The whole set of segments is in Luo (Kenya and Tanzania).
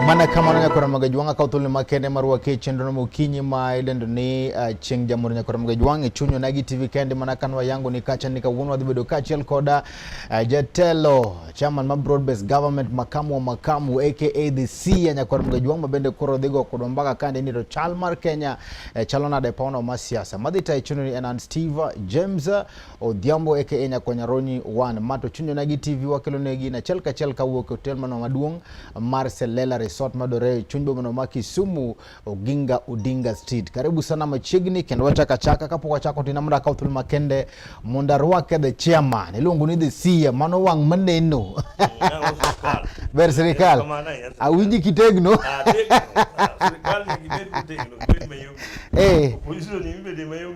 mana kamano nyakora maga jwanga ka utulni makende marwa ke chendono mokinyi ma idendo ni uh, eh, cheng jamur nyakora maga jwanga e chunyo nagi tv kende mana kanwa yangu ni kacha ni kawuono wadhi bedo kachiel koda uh, eh, jatelo chairman ma broad based government makamu wa makamu aka the c ya nyakora maga jwanga mabende koro dhigo kodwa mbaka kande ni to chal mar kenya uh, eh, chalonade paona ma siasa madhi tayo e chunyo ni enan steve james Odhiambo aka e Nyakonyaroni wan ma to chunyo na gi TV wakelo ne gi na chelka chelka wuok e hotel mano maduong' mar Selela Resort madore e chuny boma ma Kisumu Oginga Odinga Street. Karibu sana machiegni kendo wachaka chaka kapok wachako tina mra kaw thuolo makende mondo arwake the chairman iluongo ni the CEO mano wang' maneno. Ber sirikal. Awinji kitegno. Ah, ah, sirikal ni kitegno. Eh. Opposition ni bende mayom.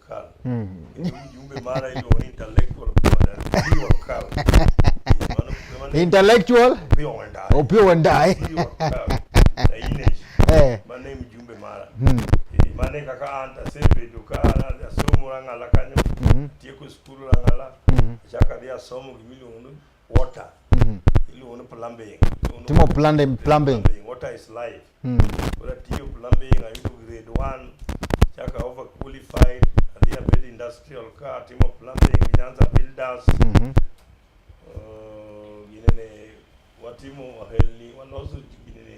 Kala. Mm. Mjumbe mara hiyo intellectual Kala. Intellectual Opio Wandayi. Eh. Mane mjumbe mara. Mm. Eh, mane kaka anta sebe dukara ya somo rangala kanyo. Mm. Tieko skulu rangala. Mm. Chaka dia somo gimilo water mm -hmm. iluongo ni plumbing timo plumbing plumbing water is life mm. ora tiyo plumbing ayudo grade 1 chaka over qualified adhi abed industrial ka timo plumbing gi Nyanza builders mm -hmm. uh, ginene watimo wahelni waloso ginene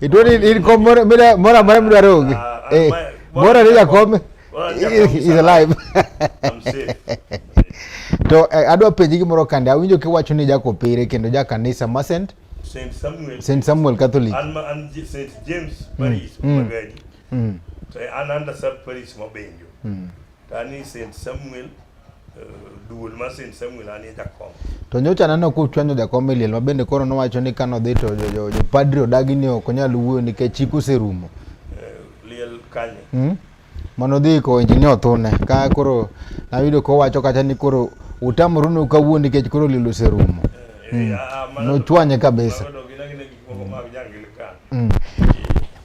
itoni in kom moro amora midwaro onge ah, ah, eh, moro ni jakom is alive to eh, adwa penji gimoro kande awinjo kiwacho ni jakopere kendo jakanisa masent Saint Samuel. Saint Samuel Catholic. An, an Saint James Paris mm. Magadi. Mm. So an under sub Paris Mabenjo. Mm. Tani Saint Samuel eh, duol ma Saint Samuel anie jakom. To nyocha aneno ka uchwanyo jakom e liel ma bende koro nowacho ni kano dhi to jopadri odagi ni ok onyal wuoyo nikech chik oserumo. Eh, liel kanye? Hmm? Mano dhi ko injinia othune ka koro nayudo ka owacho kata ni koro utamoru ni ukawuo nikech koro liel oserumo. Eh, hmm. ah, ah, Nochwanye kabisa. Mm.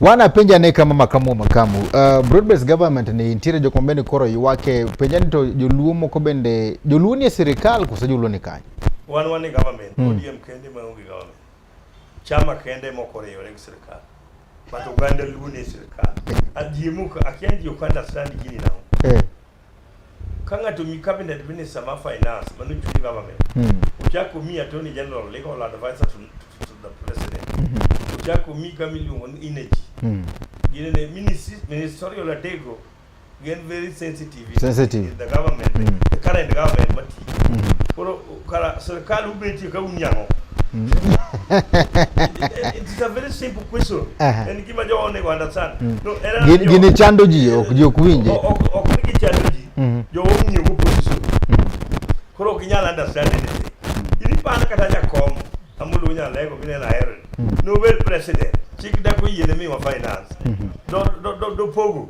Wana penja ne kama makamu makamu. Uh, broad-based government ni intere jok mabende koro ywake penja ni to joluo moko bende joluo ni e sirikal koso joluo ni kanye? Wan wan ni government, mm. ODM kende ma onge government. Chama kende moko riwore gi sirikal. But Uganda luo ni e sirikal. Ajimuka, akianji Uganda sandi gini nao. Eh. Ka ng'ato mi cabinet minister ma finance mano chuny government. Mm. Uchako mi attorney general legal advisor to, to, to the president. Mm -hmm. Uchako mi kama iluongo ni energy. Mm. Gine ne ministerial adego gin very sensitive. Sensitive. The government, mm. the current government mati. Mm. Koro Cara, se o cara não pedir que é um nhão. It's a very simple question. En gima jo one go understand. No, era gini chando ji ok ji ok winje. Ok ni chando ji. Mm-hmm. Jo winje go position. Mm-hmm. Koro ok nyal understand anything. Ini pan kata jakom amulu nya lego gine na hero. Mm-hmm. No well president. Chik da ko yene mi wa finance. Do do do pogo.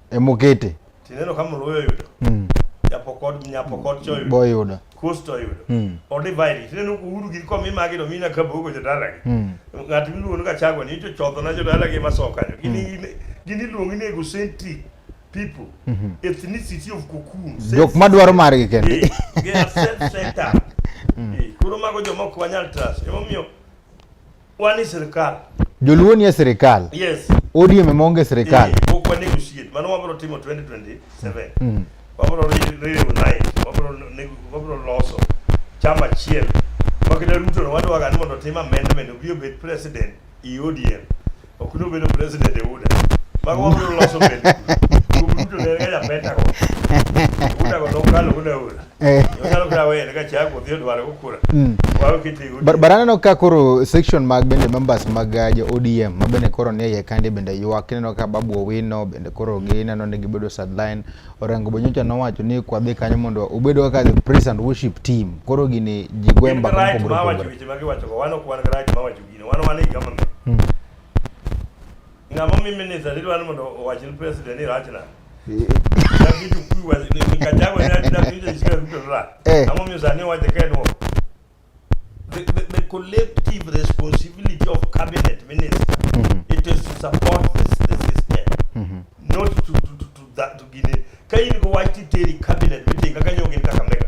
emukete tineno ka mluo oyudo mm. japokod nyapokod choyudo boyudo kusto oyudo mm. odivaidi tineno uhuru gi komi magi to mina kabogo jodalagi mm. ng'at miluongo ni kachago ni ichochodho na jodalagi masokanyo gini mm. gini luongi ni egocentric people mm -hmm. ethnicity of cocoon jok madwaro margi kende eh, they are self centered mm. eh, koro mago jomok wanyal trust emomiyo Wani sirkal. Joluo nie sirkal. Yes. ODM ema onge sirkal. Pok eh, wanego shit. Mano wabiro timo 2027. Mm. Wabiro reunite, wabiro nego, wabiro loso chama achiel. Wakita Ruto no wadwaga ni mondo otim amendment obi obed president e ODM. Ok ni obedo president e UDA. Mago wabiro loso bende. Ruto ne ga japeta go. UDA go nokalo UDA UDA. Eh. Mm. baraneno ka koro section mag bende members mag uh, jo odm ma bende koro nie iye kandi bende ywak ineno ka babu owino bende koro gineno ni gibedo sideline orango bonyocha nowacho ni kwadhi kanyo mondo obed kaka the praise and worship team koro gini ji gwe mbaka mopogore opogore Ng'ama mi minister ni dwani mondo owach ni president ni rach na. Dakitu kuyu wa ni kachagwa ni adida kuyu jisikia kuyu ra. Eh. Ng'ama mi usani wache kenwo. The, the, the collective responsibility of cabinet minister it is to support this, the system not to, to, to, to, that, to gine ka in go wach titeri cabinet mitinga kanyo gin kaka mega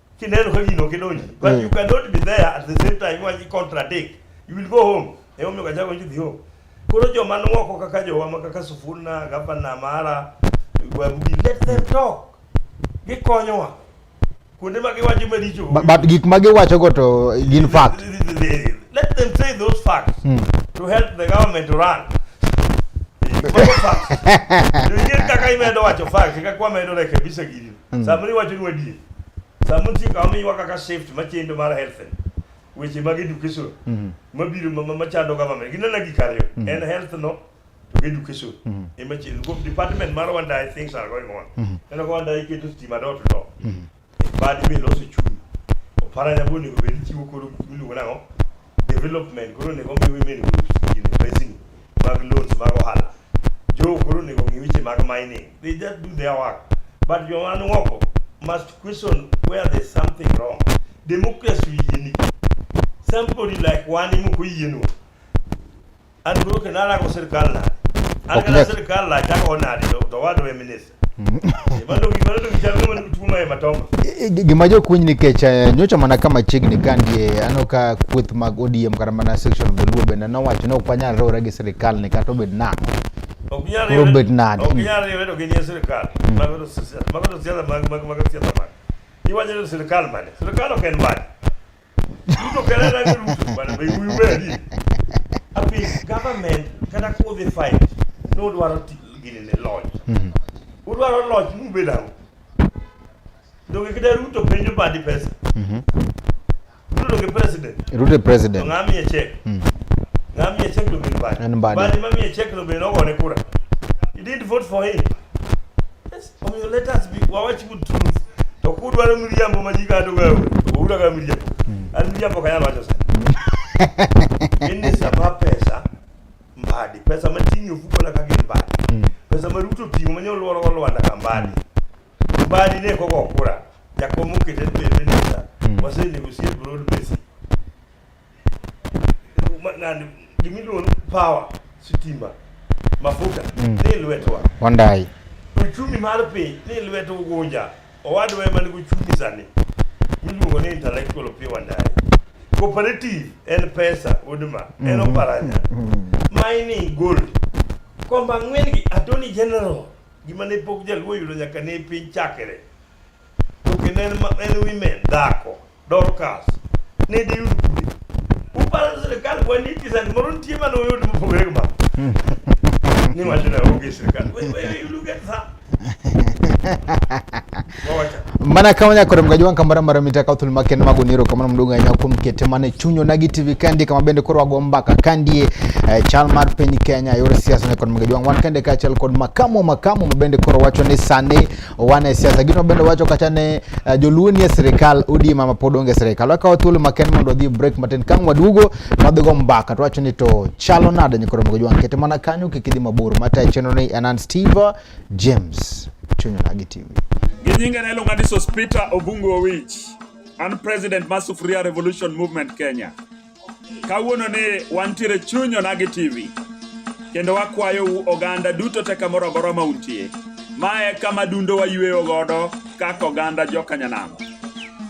kineno ka gino kidonji but mm. you cannot be there at the same time waji contradict you will go home e omiyo ka jago jidhi home koro joma nwoko kaka jowa ma kaka Sufuna gavana mara Babugi let them talk gikonyowa kuonde ma giwacho maricho but gik ma giwacho go to gin fact let them say those facts mm. to help the government to run Kaka imedo wacho facts, kaka wamedo rekebisha gini. Mm. Samoro iwacho ni wadie. Samoro ti kama miwa kaka shift machendo mar health. Weche mag education. Mm. Mabiro machando government. Ginena gik ariyo. Mm. En health no to education. Mm. Ema chendo. Go department mar wanda things are going on. Mm. Eno kwa wanda iketo stima dot no. Mm. Badi be loso chumi. Opara nyaboni go be chiwo koro miluongo nang'o? development koro onego omi women groups gini pesini mag loans mag ohala jogo koro onego ong'i weche mag mining they just do their work but joma ni oko must question where there's something wrong democracy oyieni somebody like wan ema ok oyienwa an duro ke nala ko sir kala an kala sir kala ta ko na de to wa do minister gima jokuny nikech eh, nyocha mana kama chiegni ka ndie eh, aneno ka kweth mag odm kata mana section of the luo bende nowacho ni ok wanyal riwore gi sirikal ni kata obed nang'o koro obed nade iwacho ni sirikal mane sirikal ok en mane Ruto kelala ni Ruto bana be wuyu bedi. Abi government kata kudhi fight ni udwaro ti- gini ne loch. Udwaro loch ni ubed ang'o? Donge kida Ruto penjo badi pesa. Ruto donge president. Ruto e To president. ng'a miye chek? Ng'a miye chek donge ni badi. En Mbadi. Badi ma miye chek no be nogone kura. You didn't vote for him. Omiyo let us be wawach good truth. To kudwaro miriambo ma ji kado gawe, ura ga miriambo. Hmm. An miriambo ka yalo wacho sana. Ini sama pesa mbadi, pesa ma tingi ofuko na kage mbadi. Hmm. Pesa ma ruto tingo manyo lworo wa lwanda ka mbadi. Hmm. Mbadi ne koko kura. Jakomo kete pe minister. Wase negotiate broad basic. nani gimiluongo power sitima mafuta mm. ni lwetwa wandai uchumi mar piny ni lwet ugunja owadwa ema nigi uchumi sani miluongo ni intellectual pi wandai cooperative en pesa udma mm. en mm-hmm. oparanya mm. mining gold komba ng'wen gi attorney general gima ne pok jaluo yudo nyaka ne piny chakre to kendo en ma- en women dhako Dorcas ne diyud kwe uparo ni sirkal kwa ni kisani moro nitie mane oyud mopogore gi mano ni wacho na onge sirkal We- we- you look at that. Wawacha. mana kama nyakore mgaji wanka mara mara mitaka uthul maken mago niro kamano mduga ahinya kuom kete mane chunyo nagi tv kandi kama bende koro wago mbaka kandie eh, chal mar piny kenya yor siasa ne kod mgaji wang wan kande kaachiel kod makamo makamo mabende koro wacho ni sani owane siasa gino bende wacho kata ne uh, eh, joluo nie sirikal udi mama pod onge sirikal wakawo thuolo maken mondo wadhi break matin kang waduogo wadhigo mbaka to wacho ni to chalo nade nyikoro mogo jwang kete mana kanyo kik idhi mabor mata chenro ni anan steve james chunyo nagi tv gi nyinge ne iluonga ni sospita obungu owich an president mar sufuria revolution movement kenya Kawuono ni wantiere chuny onagi TV kendo wakwayou oganda duto te kamoro amora ma untie. Ma e kama dundo wayweyo godo kaka oganda jokanyanam.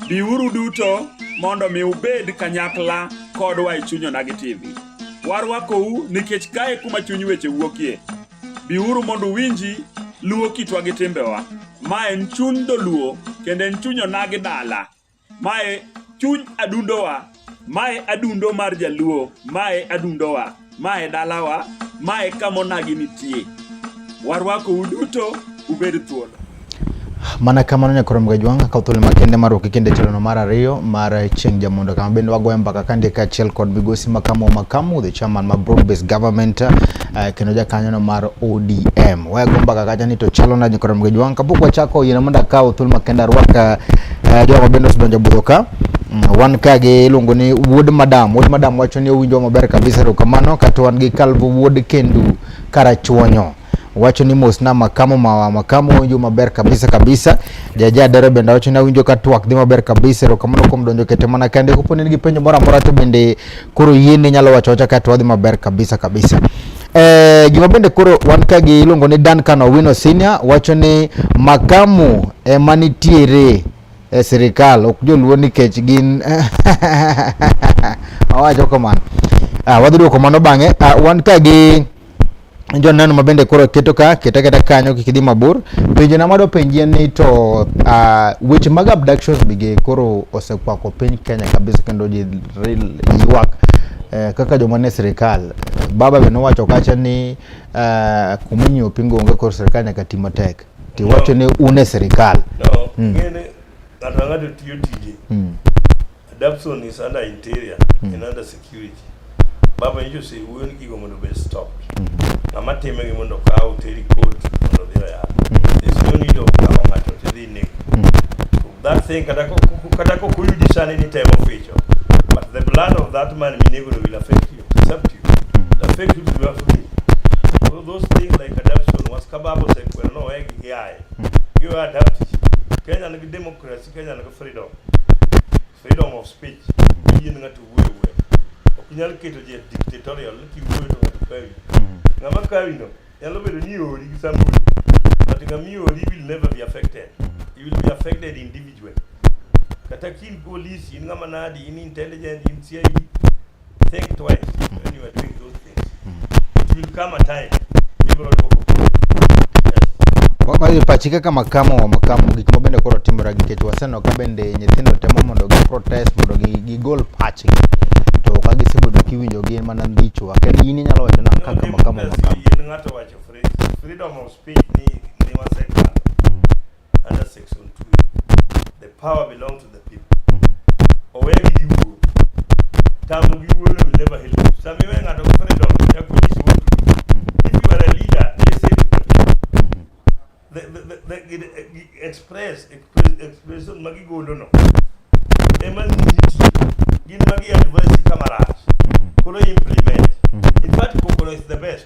Biuru duto mondo mi ubed kanyakla kodwa e chuny onagi TV. Warwakou nikech kae kuma chuny weche wuokie. Biuru mondo uwinji luwo kitwa gi timbewa. Ma en chuny dholuo kendo en chuny onagi dala. Mae chuny adundowa, mae adundo mar Jaluo, mae adundowa, mae dalawa, mae kamonagi nitie. Warwako uduto ubed thuolo. Mana kamano nyakoro mgajwang' akaw thuolo makende mar ruki kende tilono mar ariyo mar chieng' jamondo kama bende wagoyo mbaka kandika achiel kod migosi makamu makamu the chairman ma broad based government uh, kendo jakanyono mar ODM. Wayago mbaka kacha ni to chalo nadi kod mgeji wang' kapok wachako yiena mondo akaw thuolo makende arwak uh, jogo mabende osedonjo budho ka mm, wan ka gi iluongo ni wuod madam wuod madam wacho ni owinjo maber kabisa erokamano kato wan gi kalvo wuod kendu karachuonyo wacho ni mos na makamo mawa makamo owinjo maber kabisa kabisa jaja dere bende wacho ni awinjo ka twak dhi maber kabisa erokamano kuom donjo kete mana kende koponi nigi penjo moro amora to bende Koro yie ni nyalo wacho wacha ka to wadhi maber kabisa kabisa. Eh, gima bende koro wan ka gi iluongo ni Duncan Owino Senior wacho ni makamu ema nitiere e sirikal ok joluo nikech gin awacho kamano. Ah, wadhi duoko mano bang'e. Ah, wan ka gi joneno ma bende koro keto ka keta keta kanyo kik idhi mabor penjo na mado penjie ni to uh, weche mag abductions bige koro osekwako piny Kenya kabisa kendo ji ywak eh, kaka joma ne sirikal baba be nowacho kacha ni uh, eh, kuminyi opingo onge koro sirikal nyaka ti matek ti wacho ni une sirikal no, mm. ngene ng'ato ng'ato tiyo tije mm. Adapson is under interior mm. and under security. Baba nyicho se wuyo ni gigo mondo be stop. Mm -hmm. Ng'ama time gi mondo kaw teri court mondo dhiro ya. Mm -hmm. There's no need of kawo ng'ato to dhi nek. Mm -hmm. That thing kata ko kata ko kuyudi sani ni temo ficho. But the blood of that man minego will affect you. It's up to you. Mm -hmm. Affect you to be free. So those things like adaption was kababo se kwero no egi yaye. Mm -hmm. You adapt. Kenya ni democracy Kenya nigi freedom freedom of speech yien ng'ato wuoyo wuoyo ok nyal keto ji dictatorial ni kiwuoyo to ng'ato kawi mm. ng'ama kawi no nyalo bedo ni ori gi sambuli but ng'ama iori will never be affected mm. you will be affected individually kata kin police in ng'ama nadi in intelligent in CID Think twice when you are doing those things. It will come a time. People will go. Yes. Pachika kama kama wa makamu gik ma bende koro timore nikech waseneno ka bende nyithindo temo mondo gi protest mondo gi gi gol pachgi to ka gisebedo kiwinjo gin mana ndicho aked in inyalo wacho na kaka makamu makamu in ng'ato wacho freedom of speech ni ni wasekalo under section 2 the power belongs to the people owegi gi wuo tamu gi wuo will never help you sami we ng'ato gi freedom ya kunyisi wuo if you are a leader listen to the people the, the, the, the, the, the express express expression magi golo no ema nyisi gin magi advice kama rach koro implement in fact kokoro is the best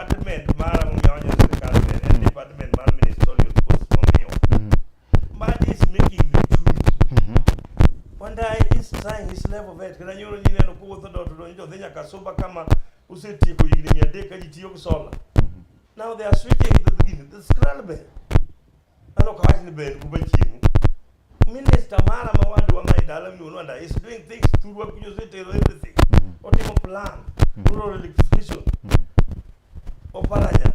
department mar ang'onya wanyo sirkal ne en department mar ministerial post momiyo Mbadi is making me choose Wandai is trying his level best kata nyoro ni neno kuwuotho dot donjo jodhi nyaka suba kama usetieko higni mia adek ka ji tiyo gi sola now they are switching to the gini the scrabble Ano kawach ni ben kuba chimu. Minister mara ma wadu wa mai dala mi unwanda is doing things through what you say tero everything. Mm. Otimo plan, mm. rural electrification. Mm. Oparanya.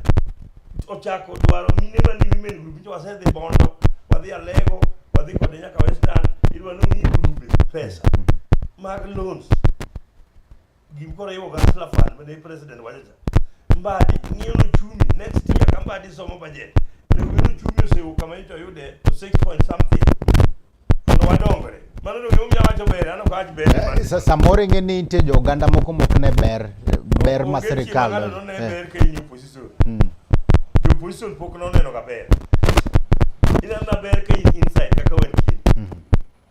Ochako dwaro mine ma ni women group nyo wase dhi bondo, wadhi alego, wadhi kode nyaka western, idwa no mi group pesa. Mm. Mag loans. gimkoro iwo kansla fan mane president wacho cha mbadi ng'iyo nochumi next year ka mbadi somo budget ne wi nochumi osewo kama ito yude to 6 point something mondo wadongre mano no gimomiyo awacho ber ano kawach ber Eh, sa- samoro ing'e ni nitie jo oganda moko mok ne ber ber ma sirikal ng'ato none eh, ber ka in opposition mm. jo opposition pok noneno ga ber ineno na ber ka in inside kaka wantie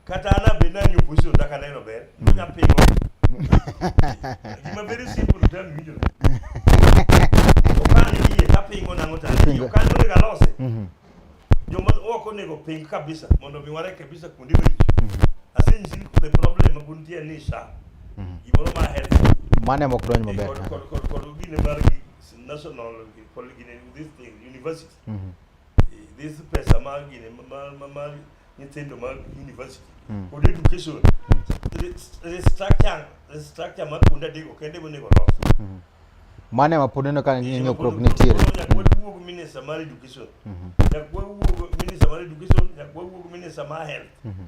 kata an abe nani opposition dak aneno ber onya pingo gima very simple to tell me winjo okan yie tapingo nango ta yie okan monego alose mhm. joma ok onego ping kabisa mondo mi wareke kabisa kuonde maricho mhm. asenyisi the problem ma kuntie ni sha mhm. gimoro ma aher mane mok donj maber kod gine mar national gine this thing university this pesa mag gini mag mag- mag nyithindo mag university Mm. kod education rest- restructure restructure mar kuonde adego kende monego olos mane ma pod neno ka nyokruok nitiere Nyaka wawuog minister mar education Mhm. nyaka wawuog minister mar education nyaka wawuog minister mar health Mhm.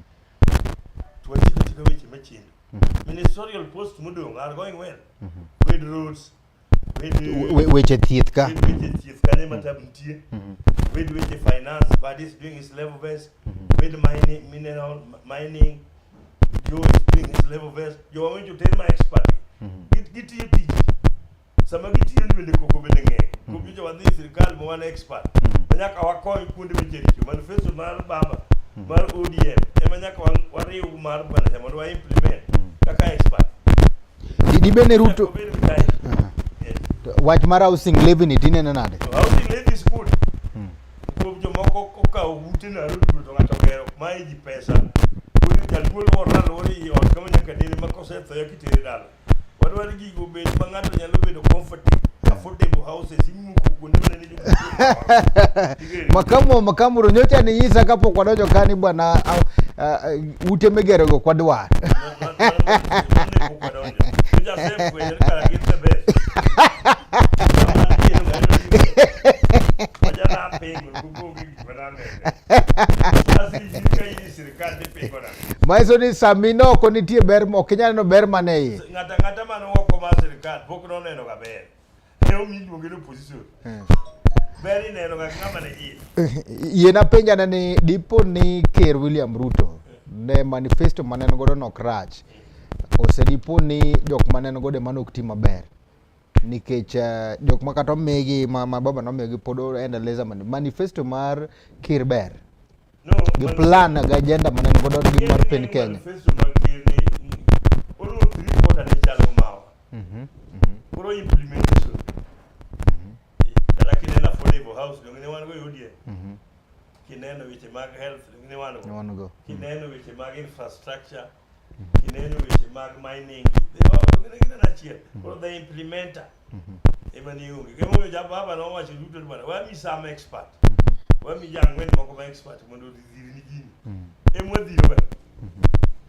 to wachik achika weche machendo ministerial post modong' are going well Mhm. with roads Wed weche thieth ka. Wed weche thieth ka ne matab nitie. Mhm. Wed weche finance, but he's doing his level best. Mhm. Wed mining, mineral mining, Joe is doing his level best. Joe, I want you to tell my expert. Mhm. Gitiyo tich. Sama gitiyo ni bende koko bende ng'eny. Koko jo wadhi sirkal ma wan expert. Manyaka wakony kuonde weche richo. Manifesto mar baba mar ODM ema nyaka wariw mar bwana mondo wa implement kaka expert. Idi bende Ruto Obed mtae. Yes. wach mar housing levy ni tinene nade? To housing levy is good. Hmm. Kuom jomoko kokawo ute na rudu to ng'ato gero ma iji pesa. Koro jaduol moro alwore i ot kama nyaka dere ma kosetho ya kitere dala. Wadwaro gigo bed ma ng'ato nyalo bedo comfortable, affordable houses imuko kuonde ma nene makamo makamo ro nyocha ni nyisa kapok wadonjo ka ni bwana uh, uh, ute migerogo kwadwar manyiso ni sami no oko nitie ber ok inyal neno ber man e iye ng'ata ng'ata man oko mar sirikal pok noneno ga ber Ne omi iluonge ni opposition. Eh. Ber ineno ga ng'ama ne iye. Yie napenja ne ni dipo ni Ker William Ruto ne manifesto ma ne en godo nok rach ose dipo ni jok ma ne en godo ema nok ti maber nikech eh, jok ma kata omigi ma, ma baba nomigi pod endeleza mani manifesto mar Ker ber No, gi man- plan gi agenda ma ne en godo gi mar piny Kenya. Manifesto mag ker ni, mm, oluwo three quarter ne chalo mawa. Mhm, mhm. Koro implementation. Mhm. Kata kineno affordable house donge ne wan go yudie. Mhm. Kineno weche mag health donge ne wan go. Wan go. Kineno weche mag infrastructure. Kineno weche mag mining. Donge ne kineno achiel. Koro the implementer. Ema ni onge. Kemo yo jababa no wacho duto ni bwana, wami some expert. Wami jang'wen moko ma expert mondo odhirni gini. Ema wadhiro bwana.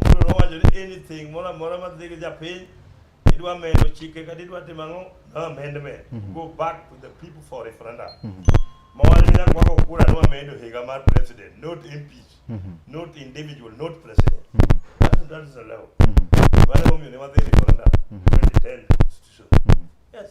Paulo nowacho ni anything moro amora ma dhi gi japiny idwa medo chike kata idwa timo ang'o no amendment Mhm. go back to the people for referendum Mhm. mawach ni nyaka wako kura nwa medo higa mar president not impeach Mhm. not individual not president Mhm. that is, that is allowed Mhm. mano momiyo ne wadhi referendum Mhm. 2010 constitution Mhm. yes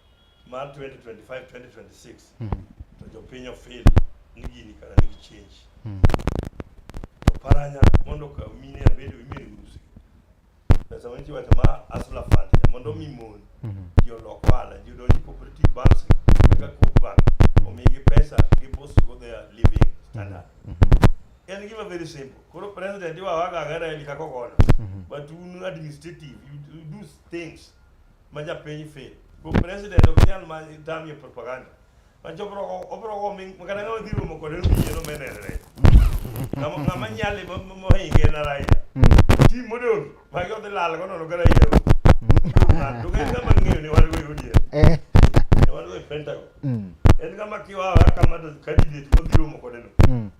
mar 2025 2026 mm. to jopiny ofil ni gini kara nigi change mm. to paranya mondo ka mine abedo imiri usi pesa ma nitie wacho ma asla fund mondo mi mon mm-hmm. ji olok ohala ji odonji cooperative banks kaka coop bank mm-hmm. omigi pesa gi boost go their living standard mm-hmm. en gima very simple koro president iwawaga agera eli kako kono but un administrative you do things ma japiny fe ko president ok nyal ma tamie propaganda mancho obro obro go mi kata ngama dhi romo kode no yie no menere ngama ngama nyali mo mo hinge na rai ti modon ma yo de lal go no no gara yero na to ga ngama ngiyo ni wal go yudi eh wal go pentago en ngama kiwa kama do candidate ko dhi romo kode no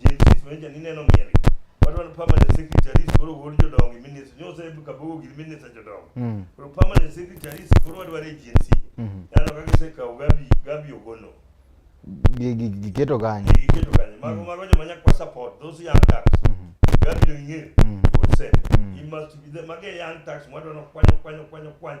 JCs ma jani neno miel wadwa ni permanent secretaries koro wuod jodongo gi minister nyo se ka bogo gi minister jodongo Mm. koro permanent secretaries koro wadwa ni GNC Mhm. nano kaka se kawo gabi gabi ogono Gi- gi- Giketo kanyo. gi keto kanye mago mago joma nyak kwa support those young tax gabi no ing'e Mhm. would say Mhm. you must be the mage young tax wadwa no kwanyo kwanyo kwanyo kwanyo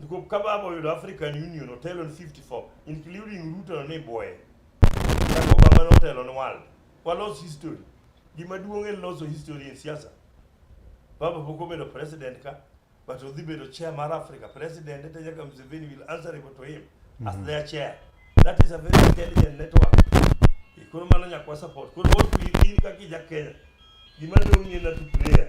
Niko kababa oyudo African Union otelo ni 54 including Ruto ni boye. Kaka Obama notelo ni world. Walos history. Gima duong' en loso history e siasa. Baba pok obedo president ka but odhi bedo chair mar Africa president ete nyaka Museveni will answer to him mm -hmm. as mhm. their chair. That is a very intelligent network. Koro mano nyaka support. Koro what we in kaka ja Kenya. Gima duong' en na to player.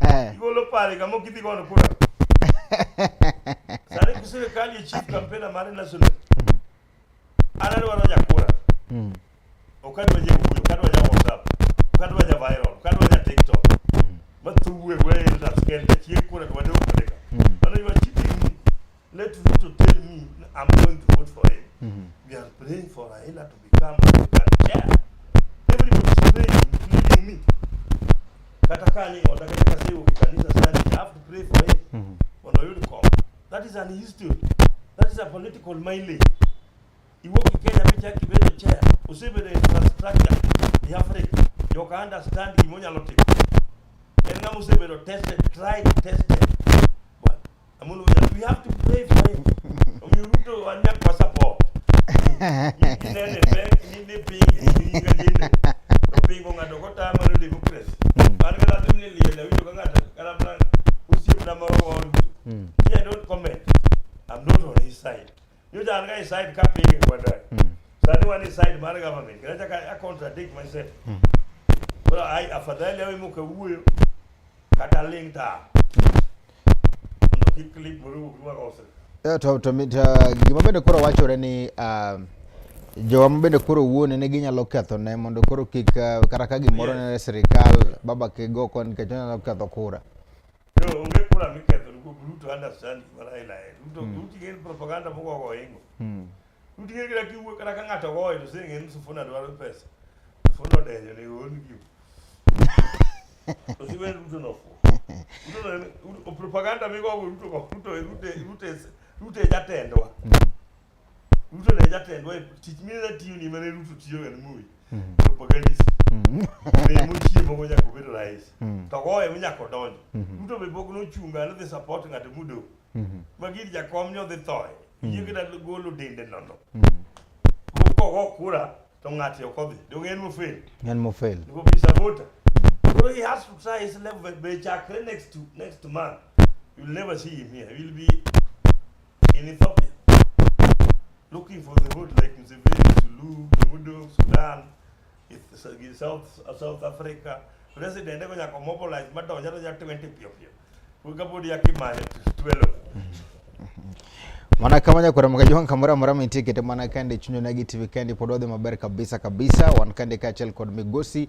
Eh. Igolo pale kama kidhi gono kura. Sare kusire kali chief kampena mare national. Mm. Ana ro ro jakura. Mm. Okadwa je kuyo, okadwa ja WhatsApp, okadwa ja viral, okadwa ja TikTok. Mm. Matuwe wewe ndio taskenda chie kura kwa ndio kudeka. Mm. Ana yo chief Let Ruto tell me I'm going to vote for him. Mm -hmm. We are praying for Raila to become African chair. Everybody is praying, including me. Kata kani wataka kaka sasa hiyo kanisa sasa I have to pray for him. Mm -hmm. Wana yule kwa. That is an history. That is a political mileage. Iwoki Kenya picha yake bado chair. Usibe the infrastructure ya Afrika. You can understand kimonya lote. Ena Museveni tested, tried, tested. Amolo, we have to pray for him. Omiyo Ruto anya kwa support. Kinene pek ni ni pingi ni kadine. To pingo ngado ko ta maro democracy. Par kala tum ni liye na wito ngado kala plan usiep na maro wa Ruto. Yeah, don't comment. I'm not on his side. nyocha an ga e side ka pinge kwanda mm. sani wan e side mar government kata chaka a contradict myself mm. koro ai afadhali awe moka wuoyo kata ling ta mondo kik clip moro wuog ma ose eh, to to gima bende koro wachore ni um, jowa ma bende koro wuone ne ginyalo ketho ne mondo koro kik uh, kata ka gimoro ne sirikal baba kigo kon nikech onyalo ketho kura No, onge kura miketho ni kuom Ruto understand gima Raila en. Ruto Ruto ing'e ni propaganda moko ogo ingo. Mm. Ruto ing'e kata kiwuo kata ka ng'ato goyo to sing'e ni Sifuna dwaro pesa. Sifuna odenyo ni ool gi. To siwe Ruto no fu. Ruto no en- Ruto- propaganda migo go Ruto go Ruto Ruto Ruto is- Ruto e jatendwa. Ruto ne jatendwa e tich mine natiyo ni mane Ruto tiyo ga ni Moi. Mm. Propagandist. Mm. Ne mochiemo go nyako bedo rais. Mm. To goye mi nyako donjo. Mm-hmm. Ruto be pok nochunga nodhi support ng'ato mudo. Mm-hmm. Magiri jakom ni odhi thoye. Mm. Yie kata golo dende nono. Kogo kura to ng'ato ok odhi. Donge en mofel. En mofel. Niko bi sabota. So he has to try his level be chakre next to next month. You'll never see him here. He will be in Ethiopia looking for the road like Museveni, Sulu, Mudo, Sudan, Eth- South, South Africa. President eko nyaka mobilize madonja to nyaka 20 pio pio. Kuka budi ya kimale twelo. mana kama nyakora makajuan kamora mora mintie kete mana kande chunyo nagi tv kande pododhe maber kabisa kabisa wan kande kachel kod migosi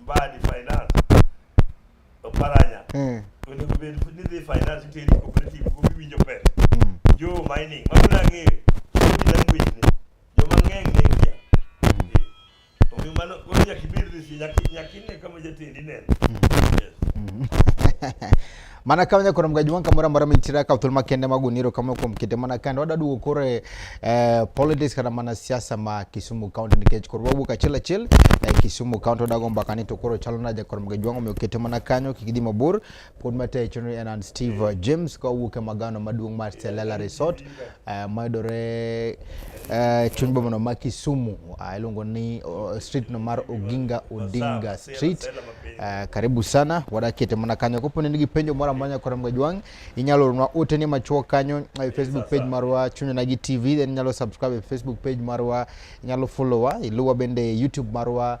mbaa di finance oparanya eh. onego bed ni dhi finance iteri cooperative go giwinjo pesa mm. jo mining mano nang'eyo sodi language ni joma ng'eny ne kia mm. eh. omiyo mano koro nyaka ibed resi nyaka ine kama jatendi neno mm. yes. mana ka wanya koro mgaji wanka mora mora mitira ka utulma kende maguniro kama kwa mkite mana kanda wada duwo kore eh, politics kana mana siasa ma kisumu county nikech koro wabu kachila chil na kisumu county wada gomba kani to koro chalo na jakoro mgaji wangu mkite mana kanyo kikidi mabur pod mate chunri enan Steve James kwa uke magano maduong mar Selala Resort Uh, mayudore uh, chuny bomano ma Kisumu uh, iluongo ni uh, street no mar Oginga Odinga Street. Uh, karibu sana wadakete mana kanyo kopo ni nigi penjo moro amora nyaka Ramga Jwang' inyalo ornwa ote ni machuok kanyo e Facebook page marwa Chunya Nagi TV then inyalo subscribe e Facebook page marwa inyalo follow wa iluwa bende YouTube marwa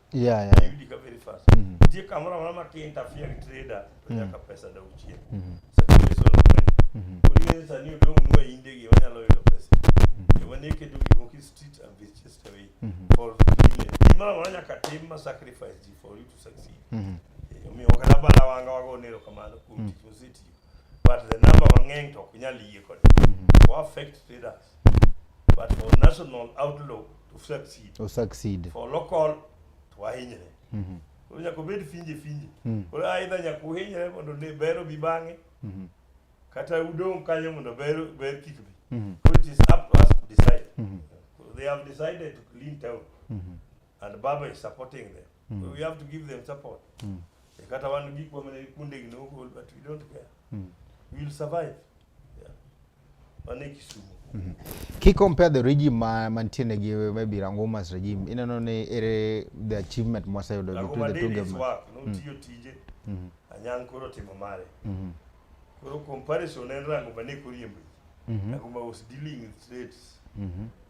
Yeah, yeah. Ayudi ka very fast. Nitie kamoro amora ma ki-interfere gi trader to nyaka pesa dog chien. Circulation of money. Koro ing'eyo sani odong' nwa inde gi wanyalo yudo pesa. Joma ne keto gik moko e street and be chased away for million. Gimoro amora nyaka tim ma sacrifice ji for you to succeed. Eh, Omiyo kata bana wanga wago nero kamano kuom tich mosetiyo. but the number mang'eny to ok nyal yie kode mm-hmm. o affect traders but for national outlook to succeed o succeed for local to wahinyre mm-hmm. koro nyaka obed finje finje mm. koro aidha nyaka uhinyre mondo ne ber obi bang'e mm-hmm. kata udong' kanyo mondo ber ber kik bi koro it is up to us to decide they have decided to clean town and baba is supporting them mm. so we have to give them support mm. kata wan gik wamene kuondegi ne ogol but we don't care mm. we will survive yeah. wane kisumu mm -hmm. ki compare the regime ma mantiene gi maybe rangomas regime ineno ni ere the achievement mwaseyudo between the two government notiyo mm. tije mm -hmm. anyang koro timo mare mm -hmm. koro comparison en rango mane koriembo mm -hmm. rango ma was dealing with states mm -hmm.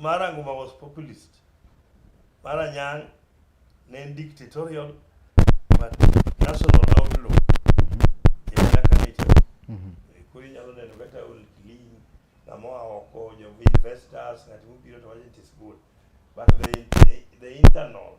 Mara Nguma was populist. Mara Nyang ne en dictatorial but national outlaw. Yaka ne chalo. Kuri nyalo neno kata ol clean ng'ama oa oko jo investors ng'at mobiro to wacho it is good but the, the, the internal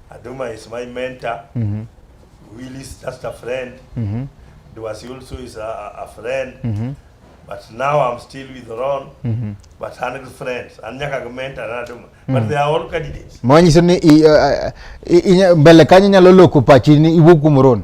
Aduma is my mentor. Mm -hmm. Willie is just a friend. Mm -hmm. Duasi also is a, a friend. Mm -hmm. But now I'm still with Ron. Mm -hmm. But hundred friends. Anyaka mentor na Aduma. Mm -hmm. But they are all candidates. Mwanyi sini i, uh, i, i, mbele kanya nyalo loku pachi ni iwuku mron.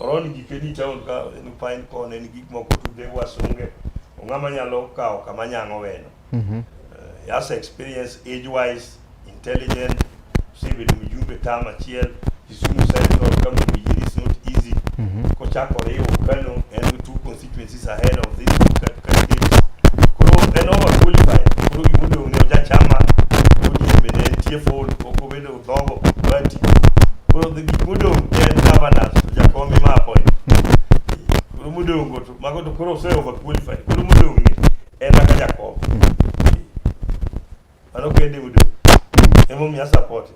Oron gike di town ka en pine cone en gik moko tude wasunge ong'ama nyalo kawo kama nyang'o weno Mhm. uh, he has experience age wise intelligent osebedo mjumbe tam achiel kisumu central kama mjini is not easy Mhm. kochako riwo kano and two constituencies ahead of this that koro en over qualified koro gima odong' ne ojachama odie bende entie full ok obedo dhogo bati koro the gik modong' ne en governors to jakom ema appoint koro modong' go to mago to koro ose over qualified koro modong' ni en aka jakom mano kende modong' emomiyo a support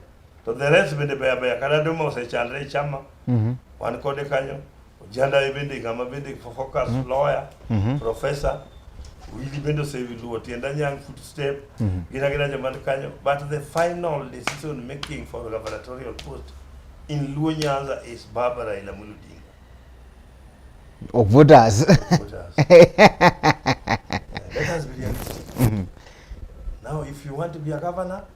To the rest bende beya beya kata Duma osechandre e chama mhm. wan kode kanyo ojanda e bende ng'ama bende focus mhm. lawyer mhm. professor wili bende oseluwo tienda nyang footstep gin agina joma ni kanyo but the final decision making for gubernatorial post in Luo Nyanza is Barbara Raila Amolo Odinga of voters let us be realistic now if you want to be a governor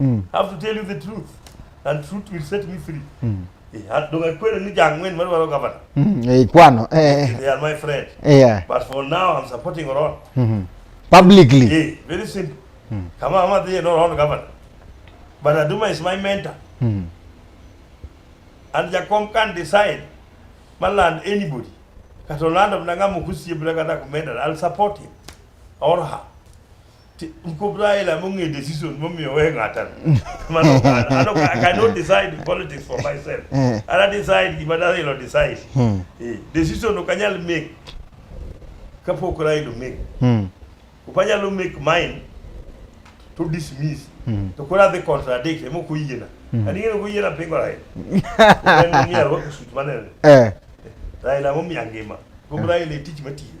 mm. have to tell you the truth and truth will set me free mm. Yeah, donge kweli ni jang'wen madwaro gavana mm, eh, kwano eh, eh. they are my friend eh, yeah. but for now I'm supporting Oron mm -hmm. publicly yeah, very simple mm. kama ama dhiye no Oron gavana but Aduma is my mentor mm. and Jakom can decide maland anybody kata olando mna ng'ama okusiebre kata kumenda I'll support him or her Ti- Mkub Raila mong'e decision momiyo we ng'ata. Mano ano I cannot decide politics for myself. Eh. Ana decide gima Raila decide. Hmm. Eh, Decision ok anyal make kapok Raila make. Hmm. Ok anyalo make mine to dismiss. Hmm. To koro adhi contradict ema ok oyiena. Hmm. Ani ng'eyo ok oyiena pingo Raila. En ng'eyo arwako suit manene. Eh. Raila momiya ngima. Kuom Raila e tich matiyo.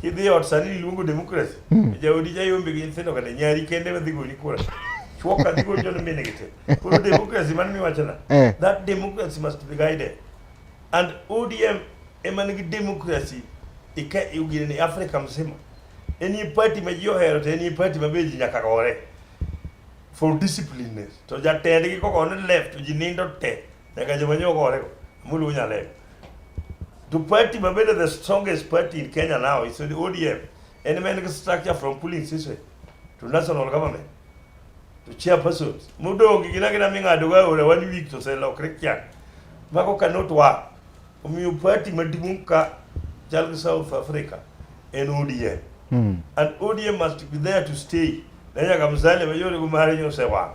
Kidhi e ot sani iluongo demokrasi. Hmm. Jaodi jayombe gi nyithindo kata nyari kende ma dhi goli kura. Chwo ka dhi goli jono mine gi te. Koro demokrasi man miwachona. Eh. That democracy must be guided. And ODM ema nigi demokrasi ika ugine ni Afrika mzima. Enie party ma ji ohero to enie party ma be ji nyaka gore. For discipline. To jatendgi koko ne left to ji nindo te. Nyaka joma nyoko orego. Mulu nyalego. The party mabende the strongest party in Kenya now is the ODM. Any man structure from pulling system to national government to chairpersons. Mudongi gina gina ming'ado ga ore one week to sell or Christian. Mako cannot work. Omiyo party maduong' ka chal South Africa en ODM. Mm. And ODM must be there to stay. Nanya kamzale mayore kumari nyose wang.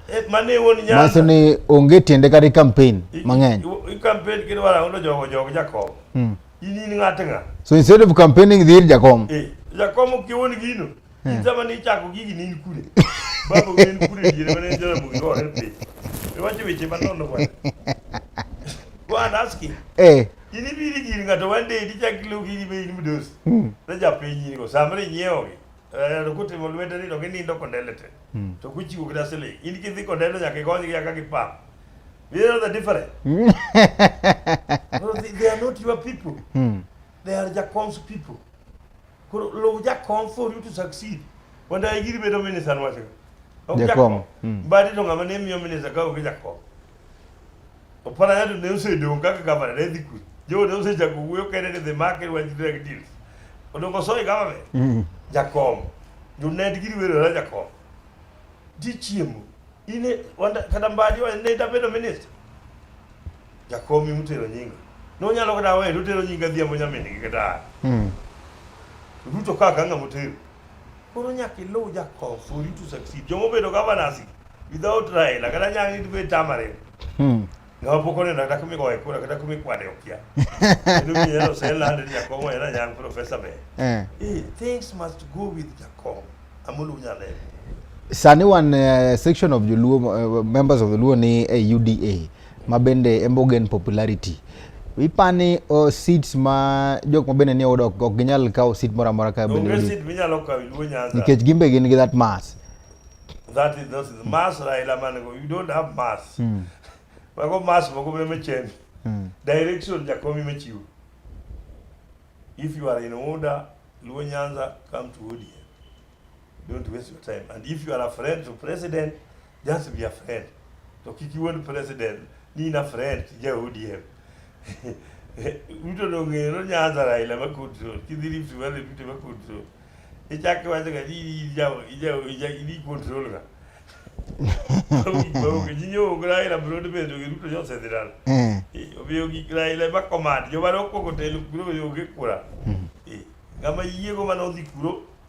Eh, mane wuon Nyanza. Manyiso ni onge tiende kata i campaign mang'eny. I campaign kendo wala uno jogo jogo Jakom. Hmm. In in ng'at ng'a. So instead of campaigning dhir Jakom. Eh, Jakom ok yewon gino. Hmm. In sama ni chako gigi ni in kure. Babo in kure dire mane jara bugi go en pe. Iwacho weche manono kwa. Go and ask him. Eh. In ibiri gir ng'ato one day dichak lu gigi be in mudos. Hmm. Ne japiny in go samre nyiewo gi. Eh, kutimo lwete ni to ginindo kondelete. Hmm. To kuchiwo kida siling. In kidhi kodendo nyaka ikonygi nyaka gipam. You know the difference? Hmm. no, they, they are not your people. Hmm. They are Jakom's people. Koro low Jakom for you to succeed. Wanda igiri bedo minister nwacho. Jakom. Hmm. Badi to ngama ne miyo minister ka ogi Jakom. Opara yadu ne use dong kaka gavana ne dhi kwe. Jo ne use chako wuoyo kene ni the market was drug deals. Odongo soy government. Mm. Jakom. Jo ne digi wero ra jakom. Ji chiemo. Ine wanda kada mbadi wa ne dabedo minister. Jakom imutero nyinga. No nyalo kada wewe utero nyinga dhiambo nyamin gi kada. Mm. Ruto kaka ng'amo tero. Koro nyaka iluw Jakobo for you to succeed. Jomo obedo governors without Raila kata nyaka ni be tamare. Hmm. Ng'ama pok oneno kata kumi goye kura kata kumi kwane okia. Kendo mi yero se lande ni Jakobo yera nyang professor be. Eh. eh. Things must go with Jakobo. Amulu nyale. Sani wan uh, section of Joluo uh, members of the Luo ni uh, eh, UDA. ma bende embo gain popularity ipani o oh, seats ma jok ma bende ni oyudo ok ginyal kawo seat moro amora ka bende onge seat minyalo kawo Luo Nyanza nikech gin be gin gi that mass that is that is mass Raila man go you don't have mass mm. mago mass moko be mechen mm. direction jakomi mechiwo if you are in order Luo Nyanza come to ODM don't waste your time and if you are a friend to president Just be a friend. To kik iwuond president ni in a friend ja ODM. Ruto dong'eyo no Nyanza Raila ma control. Kidhi Rift Valley Ruto ma control. Ichak iwacho ga ni ija ija ija ni control ga. Bawo ji nyo Raila bro de bedo gi Ruto jose diral. Eh. Obiyo gi Raila ma command. Jomaro koko telo kuro yo gi kura. Ngama yiego mano dhi kuro.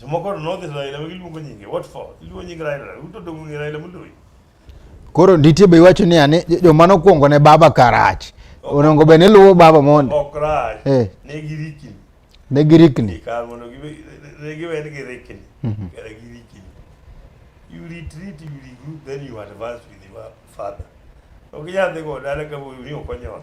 Jomoko nodhi Raila ma giluongo nyinge. What for? Iluongo nying Raila. Ruto dongo ng'e Raila moloyi. Koro nitie be iwacho ni ane joma nokwongo ne baba karach. Onongo be ne luwo baba mondo. Ok rach. Eh. Ne girikni. Ne girikni. Kar mondo ne giwen gi rikni. Mhm. Kar girikni. You retreat, you regroup, then you advance with your father. Ok nyadhi go dala ka wuoyi ni okonyono.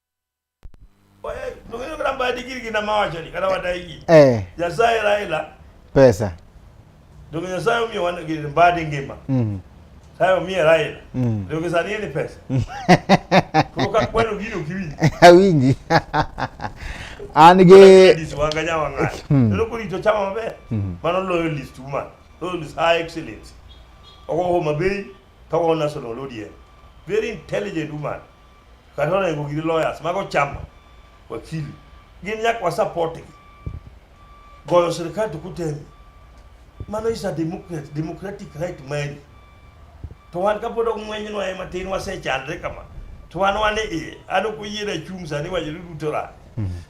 Eh. Pesa. Donge Nyasaye omiyo wan gi mbadi ngima. Mhm. Sayo mie Raila. Mm. Ndio kisa nini pesa? Kuka kwenu gino kiwinji. Awinji. An ge dis wanga nya wanga. Ndio kuli to chama mabe. Mm. Mano loyo list woman. Loyo list high excellence. Ogo ho mabe to ona solo lodie. Very intelligent woman. kata onego giri lawyers mago chamba wakili gin nyaka wasupport gi goyo sirikal to kutemi mano is a democratic, democratic right mari to wan kapod ok ng'wenyno ema tin wasechandre kama to wan wan iye an ok oyiera chung' sani wacho ni duto ra mm-hmm.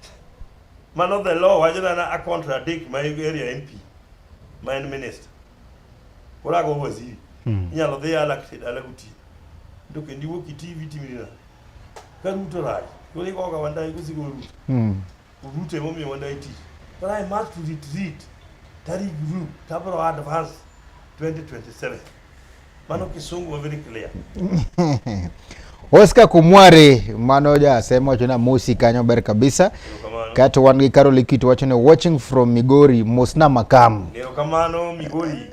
mano the law wacho nana a contradict my area mp ma en minister koro ago waziri mm-hmm. inyalo dhi alakted alaguti to kendo iwuok iti vitimina ka ruto rach koro igoga wandayi kosigo ruto Mm. ruto emomiyo wandayi tich but i must retreat tari group tabro advance 2027 mano kisungu wa very clear Oscar Kumware mano ja sema wacho na mosi kanyo ber kabisa Erokamano. kato wan gi Carol Ikiti wacho ni watching from Migori mosna makam Erokamano migori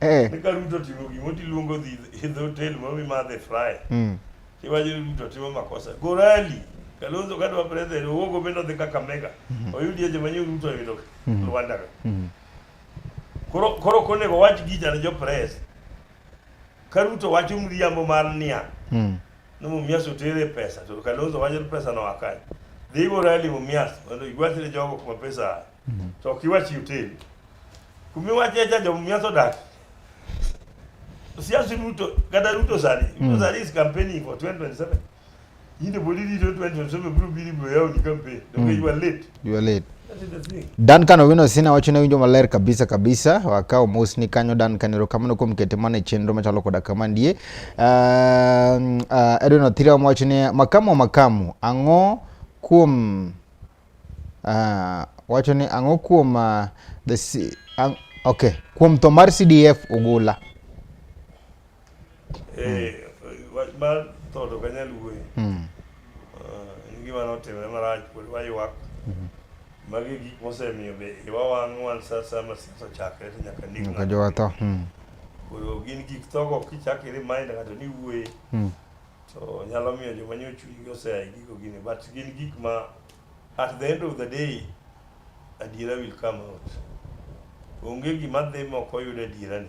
Eh. Ni ka Ruto timo gimo tiluongo dhi hidh hotel ma mi madhe fry. Mm. Tiwacho ni Ruto timo makosa. Gorali. Kalonzo kata wa president owogo bendo dhi kaka mega. Mm-hmm. Oyudi eje manyo Ruto oyudo. Mm-hmm. Rwanda. Mm. Koro koro kone go wach gi jana jo press. Ka Ruto wacho mriambo mar niya. Mm. No mumias otere pesa to Kalonzo wacho pesa no akai. Dhi gorali mumias mondo igwatire jogo kuma pesa. to ok iwach hotel kuma iwache cha jomumia sodaki siasi ruto kata ruto sani ruto mm. sani is campaigning for 2027 yinde bodi rito 2027 biro biri biro yawo ni campaign donge mm. you are late you are late Duncan Owino Sina wacho ne winjo maler kabisa kabisa wakawo mos ni kanyo Duncan erokamano kuom kete mana e chenro machalo koda kama ndie uh, uh, Edwin Othira wacho ni makamu makamu ang'o kuom Uh, wacho ni ang'o kuom uh, the C, ang, okay, kuom tho mar CDF Ogula. Eh, wach mar tho to kanyal wuoyo. Mm. Uh, en gima notimre marach pod waywak. Mm -hmm. Magi gik mosemiyo be iwa wang' wan sa sa ma siasa chakre to nyaka ndik. Nyaka jowatho. Mm. Koro gin gik thogo kichakiri mind ng'ato ni wuoye. Mm. to nyalo miyo joma nyo chunygi oseya e gigo gini but gin gik ma at the end of the day adiera will come out onge gima dhi ma ok oyud adiera ni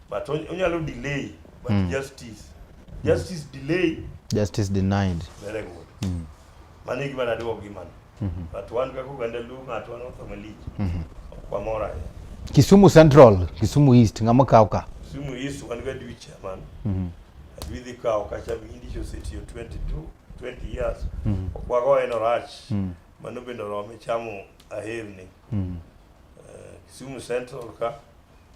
but onyalo delay but mm. justice justice delay justice denied very good mm. Mano e gima naduogo gi mano. Mhm. But wan kaka oganda Luo ng'ato wan otho malich. Mhm. Ok wamor ahinya. Kisumu Central, Kisumu East, ng'ama kawo ka? Kisumu East wan ga dwi chairman. Mhm. Adwi dhi kawo kacha mindi chosetiyo 22, 20 years. Mhm. Ok wago en orach. Mhm. Mano bende orome chamo aherni. Mhm. Eh, Kisumu Central ka.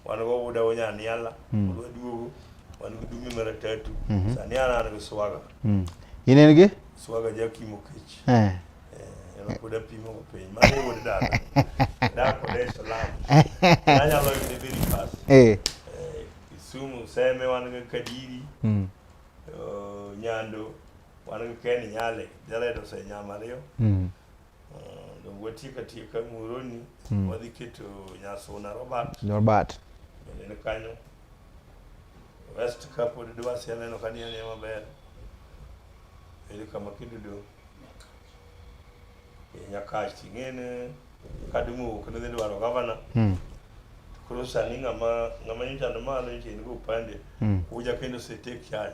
wan go wuda wo nyaniala mm. wadwa duogo wan gi dume mar atatu mm -hmm. sani an an gi swaga mm. in en gi swaga jakimo kech eh. eh pod apimo go piny mano wuod dada dak e odeso lam anyalo yude very fast eh. eh Kisumu seme wan gi Kadiri mm. uh, Nyando wan gi Ken Nyale jaledo osenyama ariyo mm. watieka tieka muroni mm. wadhi keto nyasuna robert robert bende ni kanyo west ka pod dwasi aneno ka ni anie maber eri kama kidudo e nyakach ting'ene kadumo wuok nidhi dwaro gavana mm. koro sani ng'ama ng'ama nyochando malo nyocha in go upande mm. uja kendo setake chanya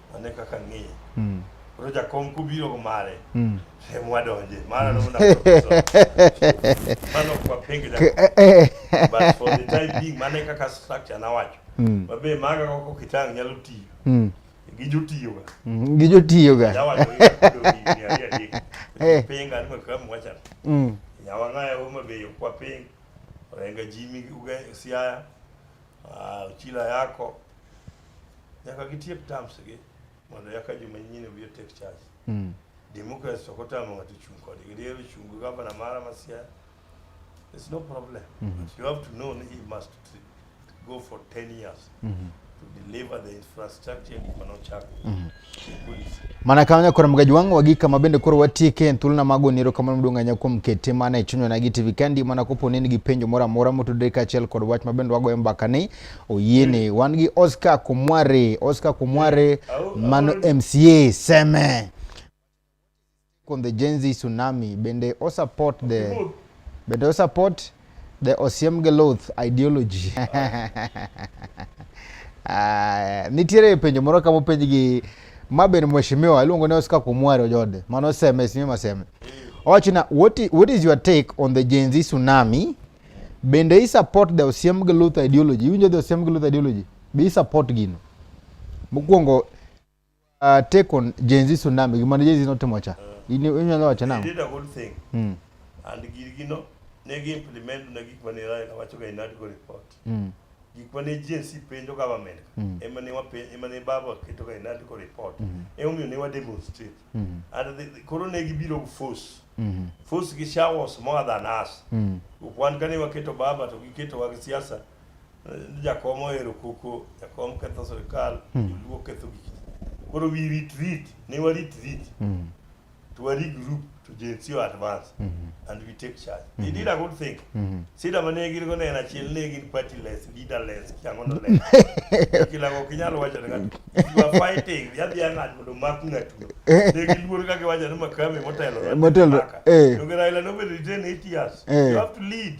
Ane kaka ng'iye. Mm. Koro jakom kubiro go mare. Mm. Em wadonje. Mara no na. Mano kwa pengi da. Eh, eh. But for the time being mane kaka structure na wacho. Mm. Mabe maga koko kitang nyalo tiyo. Mm. Gijotiyo ga. Mm. Gijotiyo ga. Dawa yo. Eh. Penga ni kwa mwacha. Mm. Nyawa ngaya umabe yo kwa penga. Orenga jimi uga siaya. Ah, chila yako nyaka gitiek terms gi mondo yaka juma nyine bi take charge mm. democracy to kota mo ngati chung kodi gidero chung governor mara masia there's no problem mm -hmm. but you have to know he must go for 10 years mm -hmm. to deliver the infrastructure in Konochak mm -hmm. mana kamano kora mgaji wangu wagi kama bende koro watieke en thuolona mago ni erokamano maduong' ahinya kuom kete mana e chunywa nagi tv kandi mana kopo ni nigi penjo moro amora motudore kaachiel kod wach ma bende wagoyo mbaka ni oyiene hmm. wan gi oscar kumware oscar kumware eh, mano mca seme on the Gen Z tsunami bende o support the bende o support the Osiem Geloth ideology uh, nitiere penjo moro kama openj gi ma bende mheshimiwa iluongo ni Oscar Kumwaro Jode mano oseme sime maseme owachona what, what is your take on the Gen Z tsunami bende i support the Osiem Geloth ideology iwinjo the Osiem Geloth ideology be i support gino mokwongo Uh, take on Gen Z tsunami. Gima ne Gen Z notimo cha. Inyalo wacho nang'o? They did a whole thing. Mm. And girgino ne gi implement na gik mane Raila wacho ga in article report. Mm. Gik mane Gen Z penjo government. Mm. Ema ne wapenjo, ema ne baba keto ga in article report. Mm. Ema omiyo ne wa demonstrate. Mm. And the, the, koro ne gibiro gi force. Mm. Force gi showers more than us. Mm. Wan kane waketo baba to giketo wa gi siasa. jakom ohero koko jakom ketho sirikal hmm. joluo ketho gik koro wi rit rit ne warit rit hmm. to wari group to jensi o advance hmm. and we take charge they did a good thing sida ma ne gin go ne en achiel ne gin party less leader less kiango no less kila go kinyalo wacho ne ng'ato you are fighting ya bi ng'at mondo mak ng'atu ne giluor ka giwacho ni makame motelo motelo eh to geraila no be retain 8 years eh. you have to lead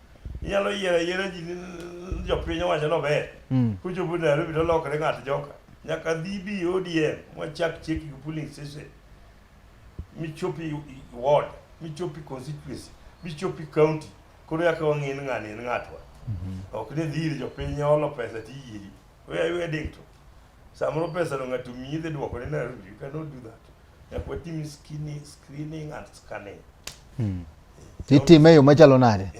inyalo yiero ayiera ji jopiny owacho ni ober mm. kuchopo Nairobi to lokre ng'at joka nyaka dhi bi ODM mwachak cheki gi polling station michopi ward michopi constituency michopi county koro yaka wang'e ni ng'ani en ng'atwa mm-hmm. ok ni dhiri jopiny olo pesa tiyiri weya weya ding to samoro pesa no ng'ato miyi dhi dwoko ni Nairobi you cannot do that Watimi skinning, screening and scanning. Hmm. Itime e yo machalo nade?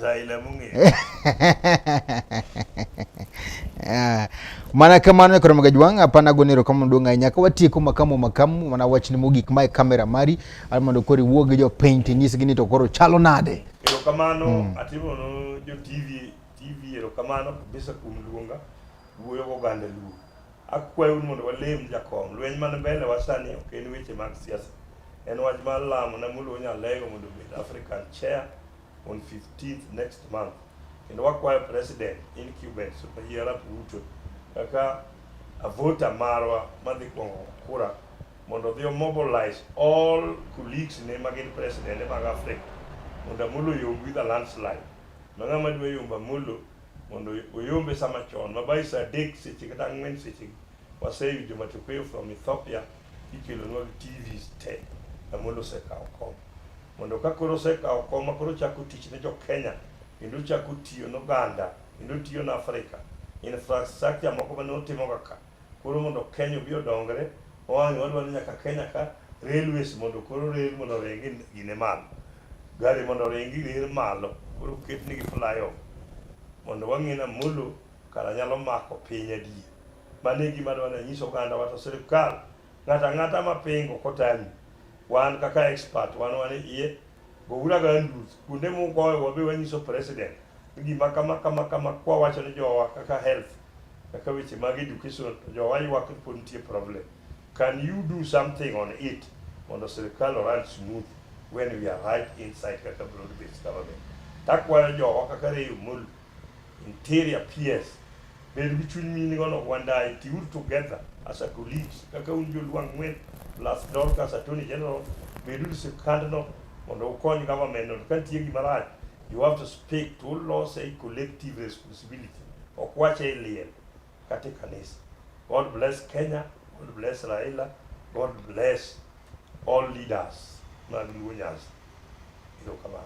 Ah, mana kamano ekoro mga jwang apana gonero kama duong' ahinya ka watieko makamu makamu mana wachni mogik mae kamera mari ar mondo koro iwuo gi jopiny tinyisgi ni to koro chalo nade erokamano mm. atimono jo tv tv erokamano kabisa kuom luonga wuoyo goganda luo Akwayou ni mondo walem jakom lweny man mbele wa sani ok en weche mag siasa. En wach mar lamo na mulo Nyalego mondo obed African chair on 15th next month. Kendo wakwayo president incumbent Super Arap Ruto kaka avota marwa madhi kwongo kura mondo odhi omobilize all colleagues ne ma gin president mag Africa mondo Amolo yomb with a landslide. Ma ng'ama dwa yombo Amolo mondo oyombe sama chon mabai saa adek seche kata ang'wen seche waseyudo matokeo from Ethiopia ikelonwa gi TV te Amolo osekawo kom mondo ka koro osekawo kom ma koro chako tich ne jo Kenya kendo chako tiyo ne oganda kendo tiyo ne Afrika infrastructure moko mane otimoga ka Koro mondo Kenya obi odongre, wawang'e wadwa ni nyaka Kenya ka railways mondo koro rail mondo oringi gine malo. Gari mondo oringi rail malo, koro oketnigi flyover. Mondo wang'e ni Amolo kara nyalo mako piny adier. Mano e gima adwa ni anyis ogandawa to sirkal Ng'ata ng'ata ma pingo kotami, wan kaka expert wan wan iye Bogura ga ndus kuonde mugoyo wabe wanyiso president ni gima kama kama kama kwa wacho ni jowa kaka health kaka weche mag education to jowa ywak ni pod nitie problem. Can you do something on it mondo sirkal oran smooth when we are right inside kaka broad based government. Takwayo jowa kaka Ray Omolo Interior PS. Bed gi chuny mini go no Wandai tiur together as a colleagues kaka un jo Luang Ngwen plus Dorcas Attorney General bed uru sirkand no mondo ukony government no ka nitie gima rach you have to speak to lose a collective responsibility ok wache e liel katika kanisa. God bless Kenya, God bless Raila, God bless all leaders na Lunyas. Ilo kamano.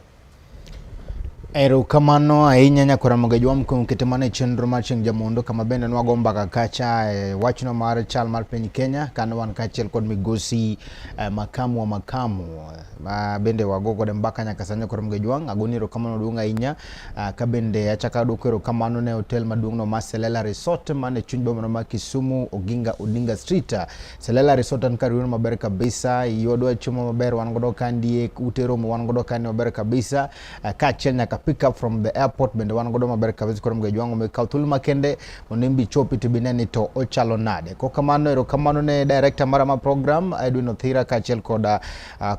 Erokamano ahinya Nyakora Mogejwa mkuom kete mane chenro mar chieng' jamondo kama bende nwago mbaka kacha e wachno mar chal mar piny Kenya kane wan kaachiel kod migosi e, makamu wa makamu ma bende wago godo mbaka nyaka sani koro mga jwang' agoni erokamano duong' ahinya ah, ka bende achako aduoko erokamano ne hotel maduong'no ma Selela Resort man e chuny bomano ma Kisumu Oginga Odinga Street Selela Resort an kar yudo maber kabisa yodwa chiemo maber wan godo kandie ute romo wan godo kani maber kabisa ah, kaachiel nyaka pick up from the airport bende wan godo maber kabisa koro mga jwang' omiyo kaw thuolo makende mondo in be ichopi to bine ni to ochalo nade kokamano erokamano ne director mara ma program Edwin Othira kaachiel koda ah,